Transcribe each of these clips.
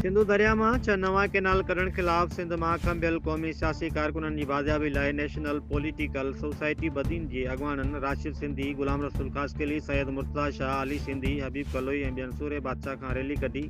سنڌو درياء مان ڇهه نوان ڪئنال ڪڍڻ خلاف سنڌ مان کنڀيل قومي سياسي ڪارڪنن جي بازيابي لاء نيشنل پوليٽيڪل سوسائٽي بدين جي اڳواڻن راشد سنڌي، غلام رسول خاصخيلي، سيد مرتضيٰ شاهه، علي سنڌي، حبيب ڪلوئي ۽ ٻين سورهيه بادشاهه کان ريلي ڪڍي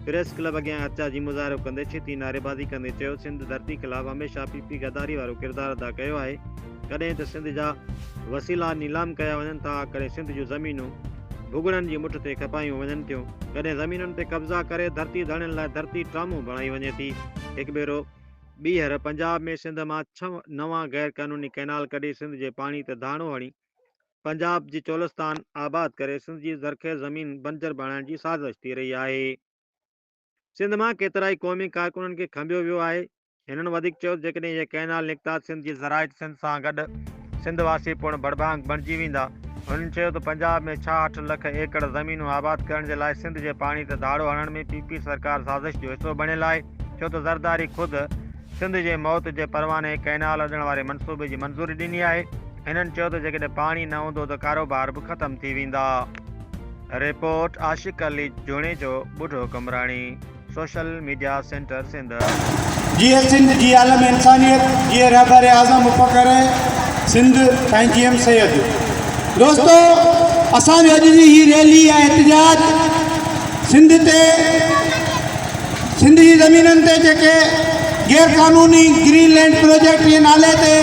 پريس ڪلب اڳيان احتجاجي مظاهرو ڪندي ڇتي نعريبازي ڪندي چيو سنڌ ڌرتي خلاف هميشه پي پي غداري وارو ڪردار ادا ڪيو آهي ڪڏهن ته سنڌ جا وسيلا نيلام ڪيا وڃن ٿا ڪڏهن سنڌ جون زمينون ڀڳڙن جي مٺ تي کپايون وڃن ٿيون ڪڏهن زمينن تي قبضا ڪري ڌرتي ڌڻين لاء ڌرتي ٽرامون بڻائي وڃي ٿي هڪ ڀيرو ٻيهر پنجاب ۾ سنڌ مان ڇهه نوان غير قانوني ڪئنال ڪڍي سنڌ جي پاڻي تي ڌاڻو هڻي پنجاب جي چولستان آباد ڪري سنڌ جي زرخيز زمين بنجر بڻائڻ جي سازش ٿي رهي آهي. سنڌ مان ڪيترائي قومي ڪارڪنن کي کنڀيو ويو آهي. هنن وڌيڪ چيو ته جيڪڏهن اهي ڪئنال نڪتا ته سنڌ جي زراعت سنڌ سان گڏ سنڌ واسي پڻ ڀڙڀانگ بڻجي ويندا. هنن چيو ته پنجاب ۾ ڇاهٺ لک ايڪڙ زمينون آباد ڪرڻ جي لاء سنڌ جي پاڻي تي ڌاڙو هڻڻ ۾ پي پي سرڪار سازش جو حصو بڻيل آهي ڇو ته زرداري خود سنڌ جي موت جي پرواني ڪئنال اڏڻ واري منصوبي جي منظوري ڏني آهي، هنن چيو ته جيڪڏهن پاڻي نه هوندو ته ڪاروبار به ختم ٿي ويندا. Report, Ashiq Ali Junejo, Budho Qambrani, social media centre Sindh. جيئي سنڌ جيئي عالم انسانيت جيئي رهبر اعظم مفڪر سنڌ سائين جي ايم سيد دوستو اسان جو اڄ جي هي ريلي ۽ احتجاج سنڌ تي سنڌ جي زمينن تي جيڪي غير قانوني گرين لينڊ پروجيڪٽ جي نالي تي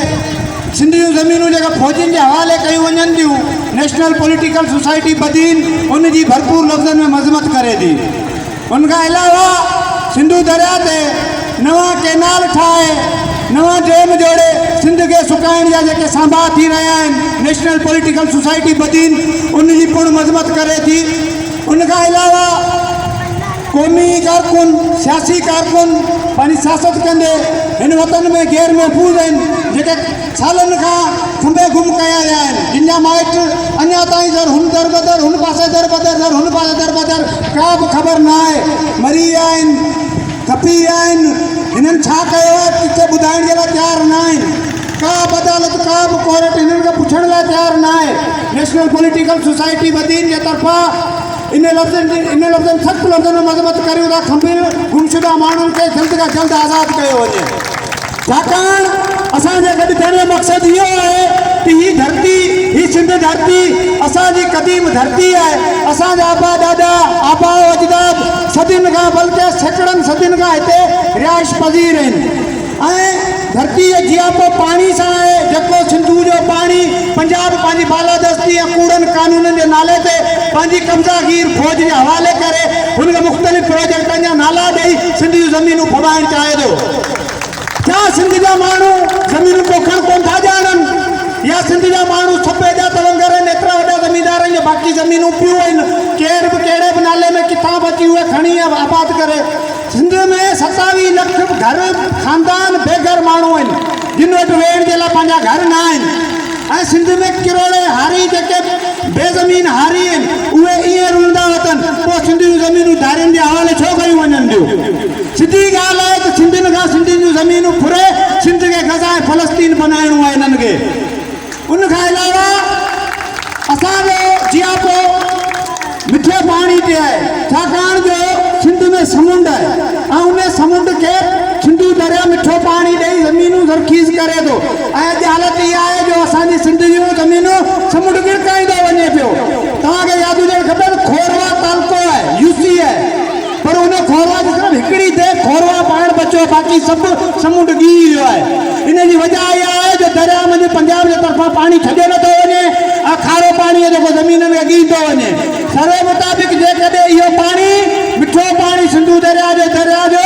سنڌ جون زمينون جيڪا فوجين جي حوالي ڪيون وڃن ٿيون نيشنل پوليٽيڪل سوسائٽي بدين ان جي ڀرپور لفظن ۾ مذمت ڪري ٿي ان کان علاوه سنڌو درياء تي نوان ڪينال ٺاهي نوان ڊيم جوڙي سنڌ کي سڪائڻ جا جيڪي سانبا ٿي رهيا آهن نيشنل پوليٽيڪل سوسائٽي بدين ان جي پڻ مذمت ڪري ٿي ان کان علاوه قومي ڪارڪن، سياسي ڪارڪن پنهنجي سياست ڪندي هن وطن ۾ غير محفوظ آهن، جيڪي سالن کان ٿنڀي گم ڪيا ويا آهن، جن جا مائٽ اڃا تائين ذر هن در بدر، هن پاسي در بدر، ذر هن پاسي در بدر ڪا به خبر نه آهي، مري ويا آهن، کپي ويا آهن، هنن ڇا ڪيو آهي ڪٿي ٻڌائڻ جي لاء تيار نه آهن، ڪا به عدالت، ڪا به ڪورٽ هنن کي پڇڻ لاء تيار نه آهي، نيشنل پوليٽيڪل سوسائٽي بدين جي طرفان. انهن لفظن جي انهن لفظن سخت لفظن ۾ مذمت ڪريون ٿا کنڀيل گمشده ماڻهن کي جلد کان جلد آزاد ڪيو وڃي ڇاڪاڻ اسان جي گڏ ٿيڻ جو مقصد اهو آهي ته هي ڌرتي هي سنڌ ڌرتي اسان جي قديم ڌرتي آهي اسان جا ابا ڏاڏا آباء اجداد صدين کان بلڪه سيڪڙن صدين کان هتي رهائش پذير آهن ۽ ڌرتيء جياپو پاڻي سان آهي، جيڪو سنڌوء جو پاڻي پنجاب پنهنجي بالادستي ۽ ڪوڙن قانونن جي نالي تي پنهنجي قبضا گير فوج جي حوالي ڪري هن کي مختلف پروجيڪٽن جا نالا ڏئي سنڌ جون زمينون ڦٻائڻ چاهي ٿو. ڇا سنڌ جا ماڻهو زمينون پوکڻ ڪونه ٿا ڄاڻن يا سنڌ جا ماڻهو سپي جا تونگر آهن، ايترا وڏا زميندارن جي باقي زمينون پيون آهن، ڪير به ڪهڙي به نالي ۾ ڪٿان به اچي اهي کڻي ۽ آباد ڪري. سنڌ ۾ ستاويهه لک گهر خاندان بيگهر ماڻهو آهن جن وٽ ويهڻ جي لاء پنهنجا گهر نه آهن ۽ سنڌ ۾ ڪروڙين هاري جيڪي بي زمين هاري آهن اهي ائين رلندا وتن پوء سنڌ جون زمينون ڌارين جي حوالي ڇو ڪيون وڃن ٿيون سڌي ڳالهه آهي ته سنڌين کان سنڌين جون زمينون ڦري سنڌ کي غزا ۽ فلسطين بنائڻو آهي انهن کي ان کان علاوه اسان جو جياپو مٺي پاڻي تي آهي ڇاڪاڻ جو سنڌ ۾ سمنڊ آهي ۽ ان سمنڊ کي سنڌو درياء مٺو پاڻي ڏئي زمينون زرخيز ڪري ٿو ۽ اڄ حالت اها آهي جو اسان جي سنڌ جون زمينون سمنڊ گرڪائيندو وڃي پيو توهان کي ياد هجڻ کپي ته کوروا تعلقو آهي يو سي آهي پر ان کوروا جي صرف هڪڙي دير کوروا پاڻ بچيو باقي سڀ سمنڊ ڊهي ويو آهي. ان جي وجهه اها آهي جو درياء منجهه پنجاب جي طرفان پاڻي ڇڏيو نه ٿو وڃي ۽ کارو پاڻي جيڪو زمينن کي ڳهي ٿو وڃي. سروي مطابق جيڪڏهن اهو پاڻي مٺو پاڻي سنڌو درياء جو درياء جو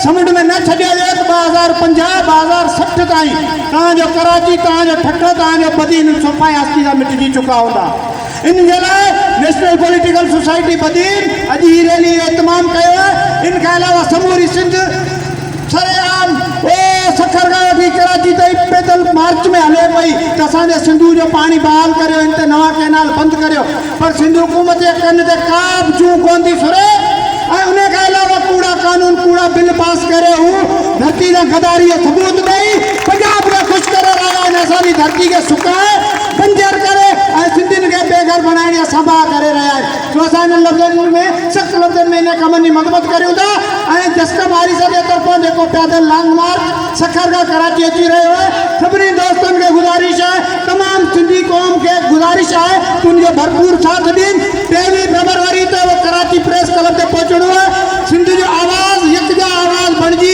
سمنڊ ۾ نه ڇڏيو ويو ته ٻه هزار پنجاهه، ٻه هزار سٺ تائين توهان جو ڪراچي، توهان جو ٺٽو، توهان جو بدين صفائي هستي سان مٽجي چڪا هوندا. ان جي لاء نيشنل پوليٽيڪل سوسائٽي بدين اڄ هي ريلي جو اهتمام ڪيو آهي، ان کان علاوه سموري سنڌ سري عام او سکر کان وٺي ڪراچي تائين پيدل مارچ ۾ هلي پئي ته اسان جي سنڌو جو پاڻي بحال ڪريو هن تي نوان ڪئنال بند ڪريو پر سنڌ حڪومت جي ڪن تي ڪابه جون ڪونه ٿي سري ۽ ان کان علاوه ڪوڙا قانون ڪوڙا بل پاس ڪري هو ڌرتي سان غداري جو ثبوت ڏئي پنجاب کي خوش ڪري رهيا آهن اسان جي ڌرتي کي سڪائي پنجر ڪري ۽ سنڌين کي بي گهر بڻائڻ جا سنڀاء ڪري رهيا آهن جو اسان انهن لفظن ۾ سخت لفظن ۾ انهن ڪمن جي مذمت ڪريون ٿا ۽ جسٽ ماريسا جي طرفان جيڪو پيادل لانگ مارچ سکر کان ڪراچي اچي رهيو آهي سڀني دوستن کي گذارش آهي تمام سنڌي قوم کي گذارش آهي ته ان جو ڀرپور ساٿ ڏين ٽيويهه فيبروري تي اهو ڪراچي پريس ڪلب تي پهچڻو آهي سنڌ جو آواز يڪجا آواز بڻجي